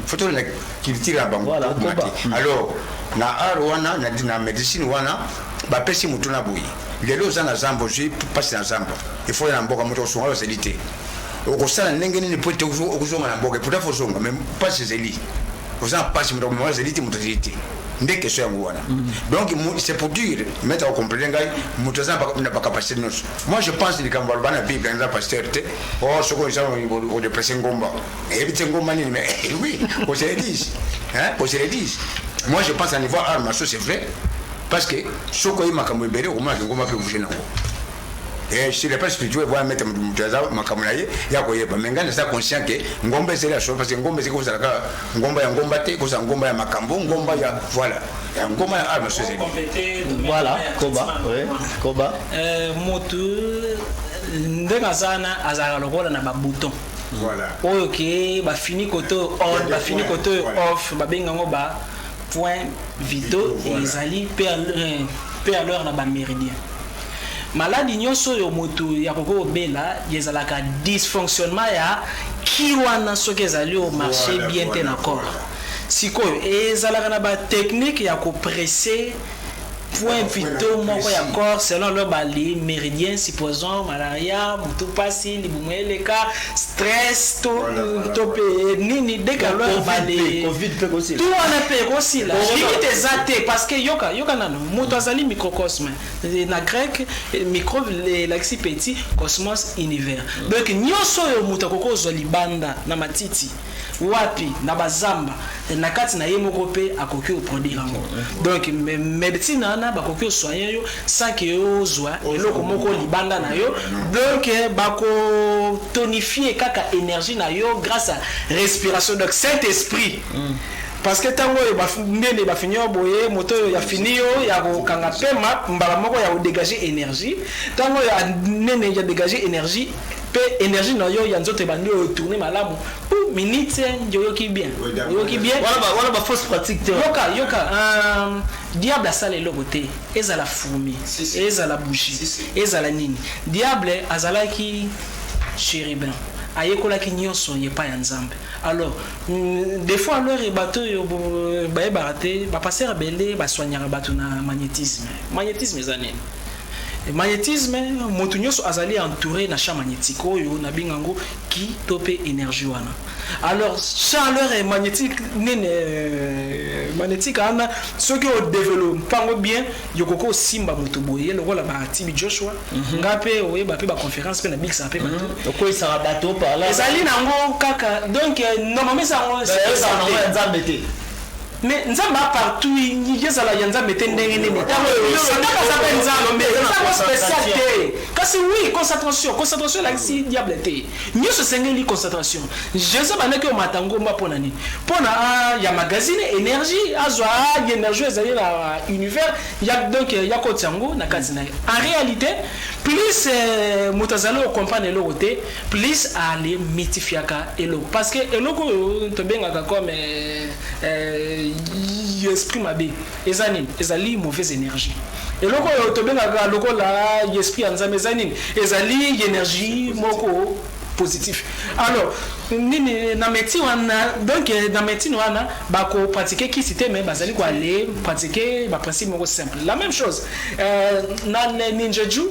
Foto na culture ya bango. Voilà, Mati. koba. Alors na art wana na, na medicine wana Ba pesi motuna boye lelo oza na zamba ozui pasi na zamba il faut oya na mboka moto akosunga yo azali te okosala ndenge nini po ete okozonga na mboka et pourtant faut ozonga mais pasi ezali oza na pasi moto akomema azali te moto azali te nde question yango wana donc c'est pour dire maître akokomprene ngai moto aza na bacapacité nyonso moi je pense likambo aloba na bible eza pasteur te o oh, soki oza odepresse ngomba eyebi te ngomba nini mais oui oseledise oseledise moi je pense à niveau arme so c'est vrai Parce que soki oyebi makambo ebele okomona lingomba mpe bouge nango eh, sur le plan spirituel voya mete moto aza makambo na ye ya koyeba me ngai naza conscient ke ngomba ezali ya solo parce que ngomba ezali kozala kaka ngomba ya ngomba te ekozala ngomba ya makambo ngomba ya voilà ya ngomba ya arme so ezali voilà koba koba euh, motu ndenge aza wana azalaka lokola na babouton oyo ke bafini kote oyo on bafini kote oyo off babenga yango ba Point vito ezali pe a l'heure na ba meridien. Maladi nionso oyo mutu ya koki kobela ezalaka dysfonctionnement ya ki wana soki ezali o marche bien te na corps. Sikoyo ezalaka na ba technique ya ko presse. point vital moko ya corps selon leur ba meridiens supposons malaria mutu pasi libumu eleka stress to to pe nini dès que leur ba tout wana pe ekosila limite eza te parce que yoka yoka nano moto azali microcosme na grec micro elakisi petit cosmos univers donc nyonso oyo moto akoki kozwa libanda na matiti Wapi? Na ba zamba na kati na ye moko pe akoki o produire yango. Donc medecine wana bakoki o soigner yo sans que ozua eloko moko libanda na yo. Donc bako tonifier kaka energie na yo grace à respiration. Donc saint esprit parce que tango oyo ba mbeli ba fini yo boye moto oyo ya fini yo ya ko kanga pema mbala moko ya ko degager energie tango oyo a nene ya degager energie Pe energie na yo ya nzoto ebandi o tourner malamu ou minutes eeh oyoki bien oyoki bien. Wana ba wana ba fausse pratique te. Yoka yoka eeh diable asala eloko te ezala fourmi ezala bougie ezala nini diable azalaki cherubin ayekolaki nionso epai ya nzambe alors des fois alors bato oyo bayebaka te ba pasteur ebele ba soignaka bato na magnetisme magnetisme eza nini? Magnetisme, mutu nionso azali entoure na champ magnetique oyo na benga yango ki to pe energie wana. Alors chaleur magnetique nini magnetique wana soki o develop pango bien yoko ko simba mutu boye lokola ba TB Joshua mm -hmm. nga pe oye ba pe ba conference pe na big sa pe mm -hmm. ko isa ba bato pa la ezali na ngo kaka donc normalement ça ngo ça ngo nzambe te Mais nzambe a partout ezala ya nzambe te ndenge nini tango satana aza pe nzambe mais eza yango special te kasi oui concentration concentration elakisi diable te nionso esengeli concentration jesus abandaki omata ngomba mpo na nini mpo na ah, ya magazine energie azwa ah, ya energie ezali na univers ya donc ya koti yango na kati na ye en réalité plus euh, moto azali okomprendre eloko te plus ale mitifiaka eloko parce que eloko oyo tobengaka comme euh, Eh, esprit mabe eza nini ezali mauvaise énergie eloko oyo tobengaka lokola esprit ya nzambe eza nini ezali energie moko positif alors nini na médecine wana donc na médecine wana bakopratique kisi te mais bazali koale pratique baprincipe moko simple la même chose euh, na ninjeju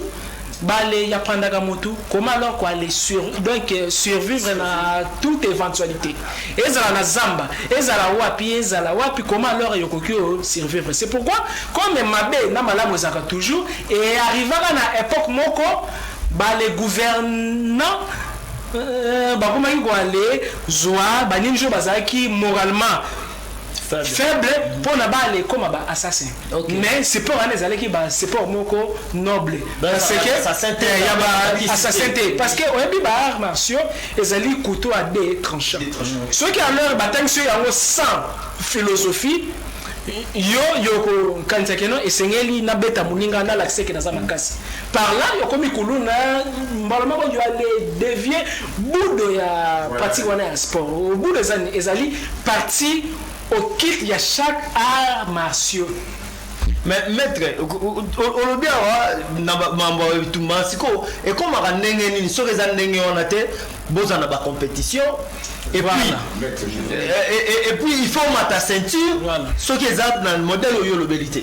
Bale ya prendaka mutu comment alors ko alle sur donc survivre na toute eventualite ezala na zamba ezala wapi ezala wapi comment alors yo koki o survivre c'est pourquoi comme mabe na malamu ezalaka toujours e arrivaka na epoque moko ba le gouvernant euh, bakomaki ko alle zua ba nini jo bazalaki moralement faible mpo na bana ekoma ba assassin mais support wana ezalaki ba support moko noble parce que eh, ya ba assassin te parce que oyebi ba arts martiaux ezali couteau à deux tranchant soki alors batangisi yo yango sans philosophie yo yokokanisa keno esengeli nabeta moninga nalakisa eke naza makasi Par là okomi kuluna mbala moko yo ale devier budo ya pratique wana ya sport. Budo ezali ezali partie occulte ya chaque art martiaux. Mais maître olobi awa na mambo ya bitumba sikoyo ekomaka ndenge nini soki eza ndenge wana te boza na ba compétition et puis et, et, et puis il faut mata ceinture soki eza na modèle oyo olobeli te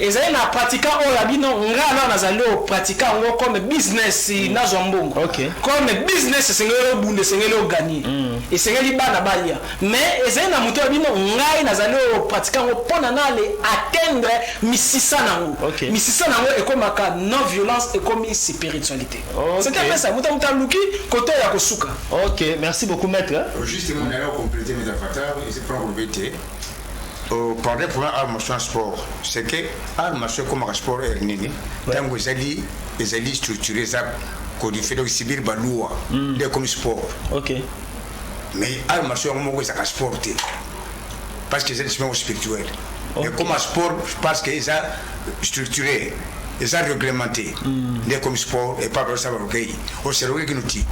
Ezali na pratika oyo ya bino nga alors nazali o pratika yango comme business nazwa mbongo okay. Comme business esengeli obunda esengeli o gagner mm. Esengeli bana balia mais ezali na moto ya bino ngai nazali o pratika yango mpo na nale atteindre misisa nango okay. Misisa nango ekomaka non violence ekomi spiritualité okay. C'est un peu ça moto moto aluki kote ya kosuka. Ok merci beaucoup maître. Justement, on a complété mes avatars et c'est pas complété. O parler pour un art martiaux en sport c'est que art martiaux ekomaka sport heure nini ntango ezali ezali structure eza codifié donc sibir ba loi hmm. nde ekomi sport ok mais art martiaux yango moko ezalaka sport te parce que eza discipline spirituel ekoma sport parce que eza structure eza reglemente mm. nde comme sport epa balosaka balokei oseloki kino ti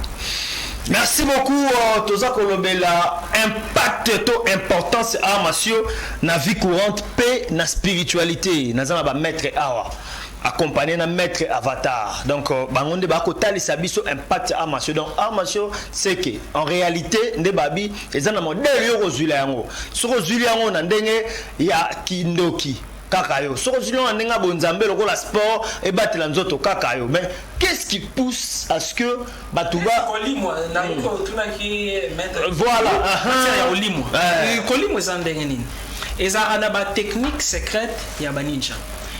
merci beaucoup euh, toza kolobela impact to importance awa masio na vie courante mpe na spiritualité naza na bamaître awa accompagné na maître avatar donc euh, bango nde bakotalisa biso impact ya amasio donc amasio seke en réalité nde babi eza na modele yo okozwila yango soki ozwili yango na ndenge ya kindoki Kaka yo soki ozwi nonga ndenge ya bonzambe lokola sport ebatela nzoto kaka yo mais qu'est-ce qui pousse à ce que bato ba kolimwa na yo otunaki maître voilà matière ya kolimwa Eh. kolimwa eza ndenge nini ezalaka na ba technique secrète ya ba ninja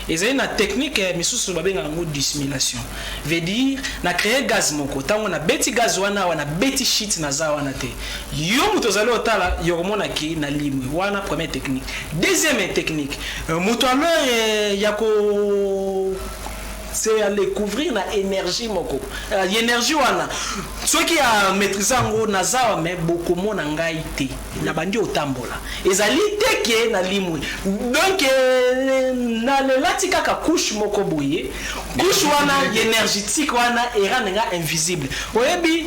ezali na technique ya misusu babengaka yango dissimulation veut dire na créer gaz moko ntango nabeti gaz wana awa nabeti shit naza wana te Yo mutu ozali otala yo komona ke na limwe wana première technique deuxième technique euh, mutu alors euh, ya ko c'est à découvrir na énergie moko euh, énergie wana soki ya maîtrise yango nazawa me bokomona ngai te na bandi otambola ezali te ke na limwe donc euh, nalelati kaka couche moko boye couche wana énergétique wana erande nga invisible oyebi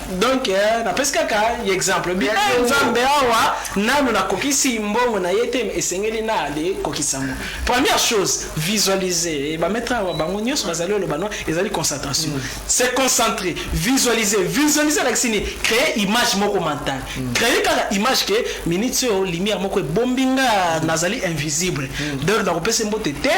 donc eh, napesi kaka ye exemple bi eh, nzambe awa nanu nakokisi mbongo na ye te esengeli na ale kokisa yango première chose visualiser bametre awa bango nyonso bazali oloba no ezali concentration mm. se concentrer visualiser visualiser alakisi nini créer image moko mentale mm. créer kaka image ke minute oyo lumière moko ebombi nga nazali invisible mm. donc nakopesa mbote te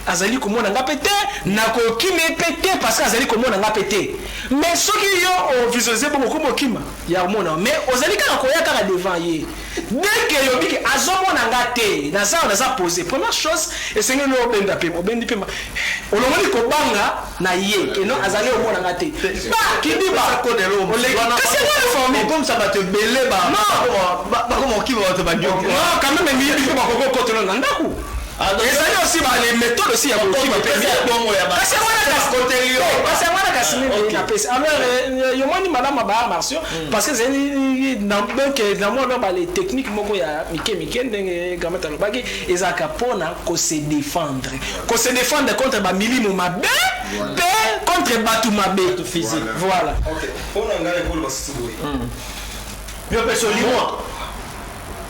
azali komona nga mpe te nakokimi mpe te parce que azali komona nga mpe te Mais soki yo o visualiser bongo okomi okima ya komona yo mais ozali kaka koya kaka devant ye dès que elobi ke azo mona nga te naza awa naza pose première chose esengeli no obenda pema obendi pema olongoli kobanga na ye ke non azali omona nga te ba kidiba oleki kasi yango na forme okomisa bato ebele ba Non. bakoma bakoma kokima bato ba non quand même miyibi mpe bakoki kokotela na ndako Ezali aussi ba les methodes aussi ya kokima mpe Kasi yango wana kasi kasi yango wana kasi mimi na pesi. Alors yo moni malamu ya ba arts martiaux parce que ezali na donc na mwa donc ba les techniques moko ya mike mike ndenge Gramata alobaki ezalaka mpona ko se défendre. Ko se défendre contre ba milimo mabe mpe contre bato mabe. Voilà. Mpona ngai nakoloba lisusu boye. Yo pesi olimwa.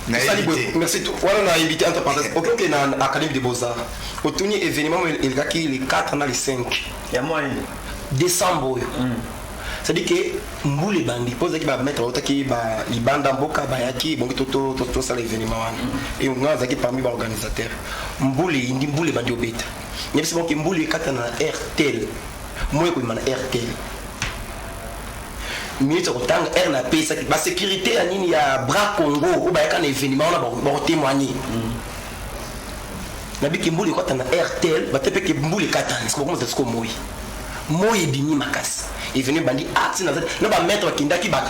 Nayebi te. Merci tout. Wana na invité entre parenthèses. Okoki okay, na Académie des Beaux Arts. Otuni événement elekaki le 4 na le 5. Ya mois nini? Décembre oyo. Mm. C'est-à-dire que mbula ebandi mpo ozalaki bamaître bautaki libanda mboka bayaki ebongi tosala événement wana mm. e nga azalaki parmi baorganisateur mbula eyindi mbula ebandi obeta yebisi bango ke mbula ekatana na rtl moi ekobima na rtl minutes ya kotanga heure na pesaki ba sécurité ya nini ya bras congo oyo bayaka na événement wana bakotémoigne nabiki mbula ekota na rtl bate mpe ke mbula ekatani sikokomona tatiko moi moi ebimi makasi evenu ebandi ati na na bamaître bakendaki ba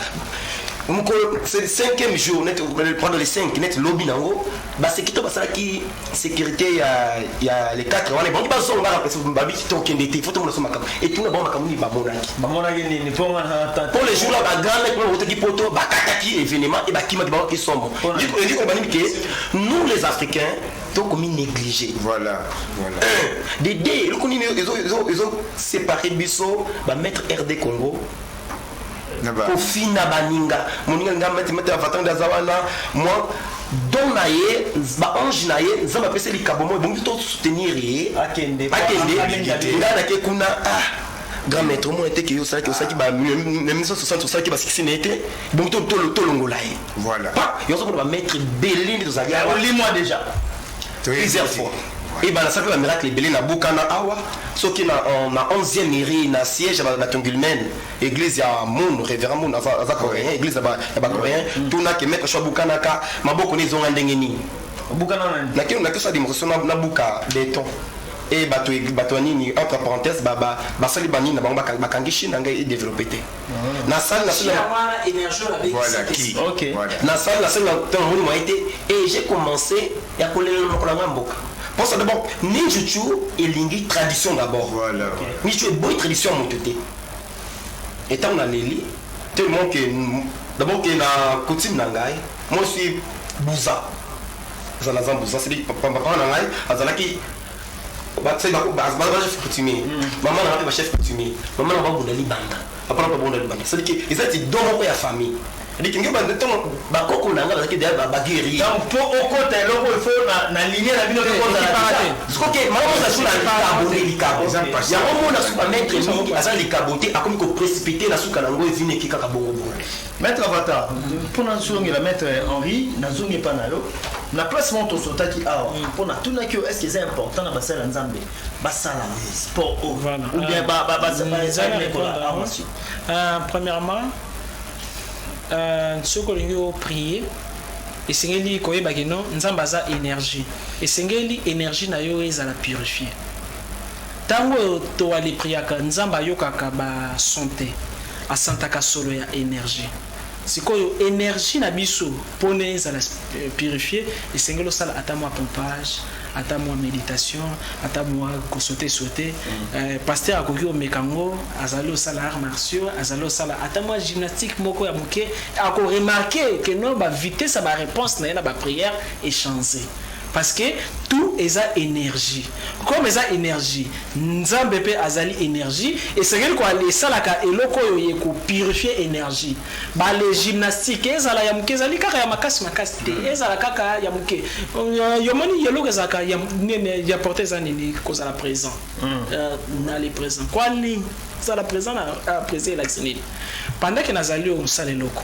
mokolo cinquième jour net pendant les cinq net lobi na yango Ba seki to basalaki securite ya ya le 4 wana bango bazonga na pesa babi to kende te foto mona soma kama et tout na bango makamuni ba monaki ba monaki ni ni ponga na tata pour le jour là ba grande pour le qui poto ba kataki événement et ba kima ki ba ki somo du coup du coup ba que nous les africains tokomi négligé voilà, voilà. un de deux eloko nini ezo ezo ezo séparer biso ba mettre RD Congo kofina baninga moninga linga mete mete avatar nde aza wana mwa don na ye baange na ye nzambe apesi likabo moko ebongi to soutenir ye akende ngai nake kuna ah grand maître omona te ke yo osalaki osalaki ba 1960 osalaki basikisi na ye te bongi tolongola ye voilà yo ozomona bamaître ebele nde tozali awa olimwa déjà plusieurs fois ebalasaka ba miracle ebele na buka na awa soki na on- na 11e mairie na siège ya ba- na tongulmen église ya moon révérend moon aza aza coréen église ya ba- ya ba coréen tuna ke maître sho abukanaka maboko ne ezonga ndenge nini obukana na nini nakino nakiosa demonstration na- na buka beton e bato e- bato ya nini entre parenthèse ba- ba- basali banini na bango baka- bakangi chine na ngai edeveloppe te na salle na sala voilà qui OK na salle na sala tant on m'a été et j'ai commencé ya kolela na kola mboka pour ça d'abord ninjuchu elingi tradition d'abord voilà ninjuchu est bonne tradition mon côté étant na leli tellement que d'abord que la coutume na ngai moi je suis bouza zala za bouza c'est papa na ngai azalaki ba tse ba ba ba chef coutumier maman na ba chef coutumier maman na ba bunda libanda papa na ba bunda libanda c'est que ils étaient dans mon ya famille diki ngi ba ndeto ba koko na nga bazaki d'ailleurs ba ba guerrier donc po okota eloko il faut na na ligne na bino ko za la ce que maman ça sur la carbone likabo ya omo na super maître mingi aza likabo te akomi ko précipiter na suka na ngo ezine ki kaka bongo bongo Maitre Avatar, mpo nazongela Maitre Henri, nazongi epa na yo na place moko tosotaki awa mpo natunaki yo estce eza important na basali ya nzambe basala sport o ou bien baekola awa si premièrement euh, soki olingi oprie esengeli koyeba kino nzambe aza énergie esengeli énergie na yo ezala purifier Tango oyo to aller priaka nzambe ayokaka ba son te asantaka solo ya energie sikoyo energie na biso pona ezala purifier esengeli osala ata mua pompage ata mua meditation ata mua ko sauter sauter euh, pasteur akoki omeka ngo azali osala arts martiaux azali osala ata mua gymnastique moko ya muke ako remarquer que non ba vitesse ya ba reponse na ye na ba prière echange Parce que tout eza energie comme eza energie nzambe pe azali energie esengeli ko esalaka eloko oyo ye ko purifier energie ba le gymnastique ezala ya muke ezali kaka ya makasi makasi te ezala kaka ya muke yo moni yeloko ezalaka ya nene ya porte eza nini kozala present na le present kwa nini zala present na present elakisi nini pendant que nazali oyo mosala eloko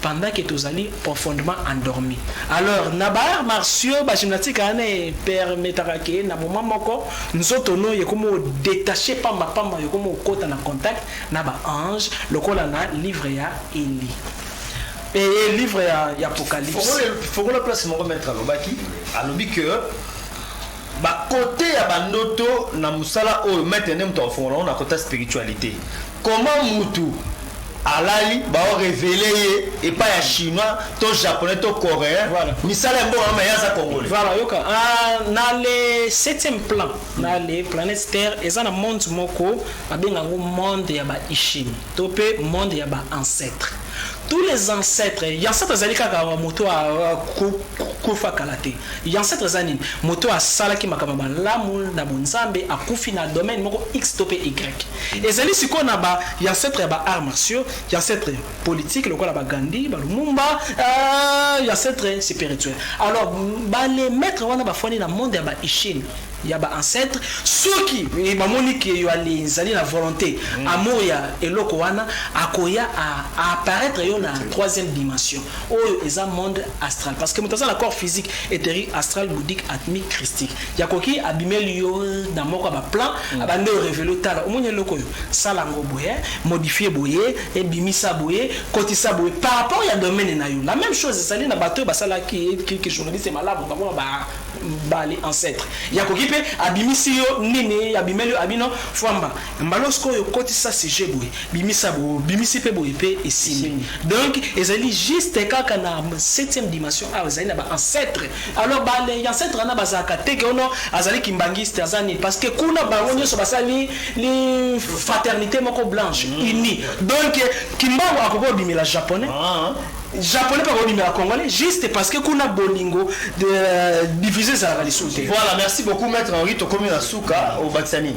pendant que tozali profondement endormi alors na ba arts martiaux ba gymnastique wana na epermetaka ke na moment moko nzoto no ekomi o detacher pamba pamba ekomi okota na contact na ba anges lokola na livre ya Eli eye livre ya apocalypse fongola place moko maître alobaki alobi que Ba cote ya ba ndoto na musala oyo maitre nde mutu akofongola ngo na cote ya spiritualite comment mutu alali bao revele ye epa ya chinois to japonais to coreens Voilà. misala ya mboka noma ye aza congolais Voilà, yoka. Ah, na le septième plan, na le planète Terre, eza na monde moko babenga yango monde ya ba Ishimi, to pe monde ya ba ancêtres. Tous les ancêtres, ya ancêtre azali kaka moto a a- ku- ku- kufa kala te. Y'ancetre eza nini? Moto oyo asalaki makambo ya malamu na bonzambe akufi na domaine moko X to pe Y. Ezali sikoyo na ba y'ancetres ya ba arts martiaux, y'ancetres politiques lokola ba Gandhi, ba Lumumba, eeeeh y'ancetres spirituels. Alors ba les maitres wana bafandi na monde ya ba Ishin ya ba ancetres, soki bamoni que yo alizali na volonte, amour ya eloko wana, akoya a apparaitre yo na troisième dimension. Oyo eza monde astral parce que moto aza na corps physique eteri astral boudique atmique christique ya koki abimeli yo na moko ya baplan mm. abandi orevele otala omoni eloko oyo sala yango boye eh, modifie boye ebimisa eh, boye kotisa boye par rapport ya domaine na yo la même chose ezali na bato oyo basalaki eh, journaliste malamu bango ba bali ancêtre ya koki mpe abimisi yo nini abimeli yo abino fwamba Mbala sikoyo okotisa sujet boye bimisa bo bimisi pe boye pe esimbi donc ezali juste kaka na septième dimension awa ezali na ba ancêtre alors ba les ancêtre wana bazalaka te ke ono azali kimbanguiste aza nini parce que kuna bango nyonso basali li fraternité moko blanche mm. unie donc kimbangu akoki obimela japonais ah. japonais mpe akobimela congolais juste parce que kuna bolingo euh, divise ezalaka lisusu te voilà merci beaucoup maître henri tokomi na suka obakisa nini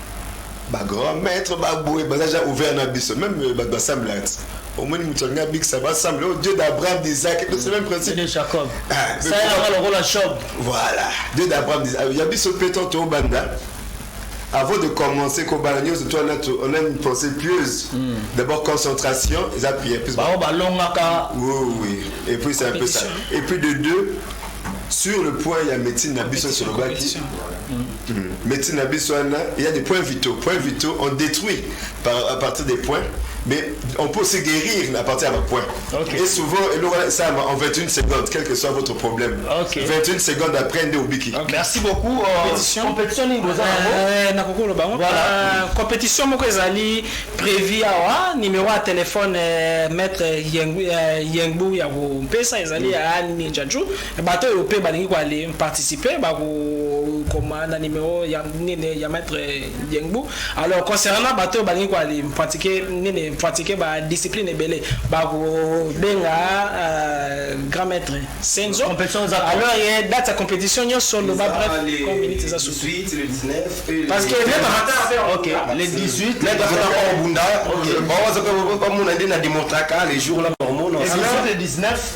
ba grand maître ba boye baza déjà ouvert na biso même euh, bato basambla ti omoni moto alingi abikisa basambla o oh, dieu d'abraham d'isaac c'est même principe de jacob ah, ça est là lokola job voilà dieu d'abraham d'isaac ah, ya biso mpe to tobanda avant de commencer kobala nyonso to wana on a une pensée pieuse mm. d'abord concentration eza pie plus bango balongaka oui oui et puis c'est un peu ça et puis de deux sur le point ya médecine na biso solobaki Medecine na biso wana, il y a des points vitaux. Points vitaux, on détruit par, à partir des points, mais on peut se guérir à partir d'un point. Okay. Et souvent, ça en 21 secondes, quel que soit votre problème. Okay. 21 secondes après, on est au biki. Okay. Merci beaucoup. Euh, compétition. Compétition, euh, na kokolo bango. Voilà. Euh, compétition moko ezali prévu awa numéro ya téléphone euh, maître Yengbu ya kopesa ezali ya Ninja Ju. Bato oyo pe balingi ko aller participer ba ko koma na numero ya nini ya maitre Diengbu. Alors concernant bato oyo balingi ko aller pratiquer nini pratiquer ba discipline ebele ba ko benga euh, grand maitre Senzo. Competition eza quand? Alors ye date ya competition nyonso loba Eza bref le comme minute eza surtout. 18, le 19 et le- Parce que maitre Avatar pe Ok, le 18. Maitre Avatar pe obunda. Ba waza pe- pe- pe- bamona nde na demontraka le jour là, bamona. Le 18 et 19.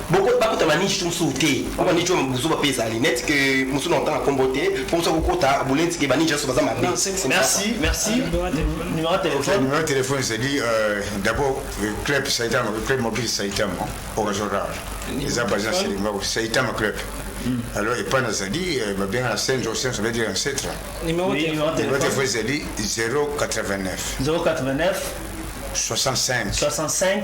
Boko bakota ba niche mususu te po ba niche buzoba pe ezali net que mususu na otanga kombo te po mususu akokota boleti ke ba niche nyonso baza mabe merci merci numéro de téléphone numéro de téléphone c'est dit euh, d'abord club saitama club mobile saitama orazora eza baza selimba saitama club alors epai nazali babenga na saint jose ozali dire ancetre numéro de téléphone ezali 089 089 65 65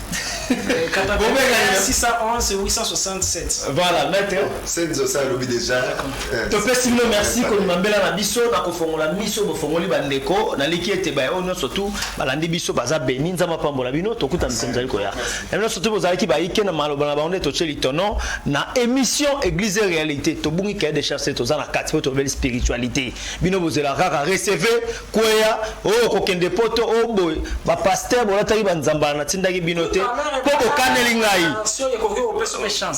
voilà maître senzo ça alobi déjà eh, topesi bino merci kondima mbela na biso na kofongola miso bofongoli bandeko naliki ete baye oyo nyonso tu balandi biso baza beni nzambe apambola bino tokuta mpe mozali koya na nyonso tu bozalaki bayike na maloba na bango nde totie litono na émission église et réalité tobungi kaye de charce toza na kati mpo tobeli spiritualité bino bozela kaka recevez Kweya oyo kokende poto oyo boye ba pasteur bolataki ba nzambala natindaki bino te mpo bokaneli ngai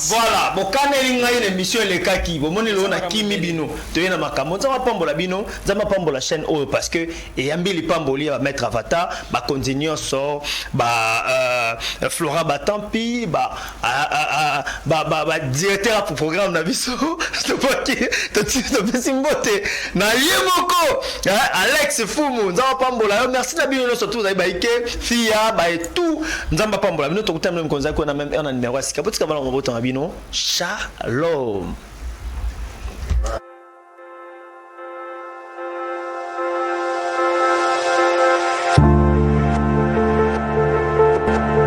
voilà bokaneli ngai na émission elekaki bomoni lelo nakimi bino toye na makambo nzambe apambola bino nzambe apambola chaîne oyo parce que eyambi lipamboli ya bamaître avatar bakonzi nyonso ba euh, flora batampi ba badirecteur ya programme na biso topaki topesi mbote na ye moko alex fumu nzambe apambola yo merci na bino nyonso tozali baike fia baye tout nzambe apambola bino tokutami na mikolo nzali kuna meme na numero ya sika botika bana mobota na bino shalom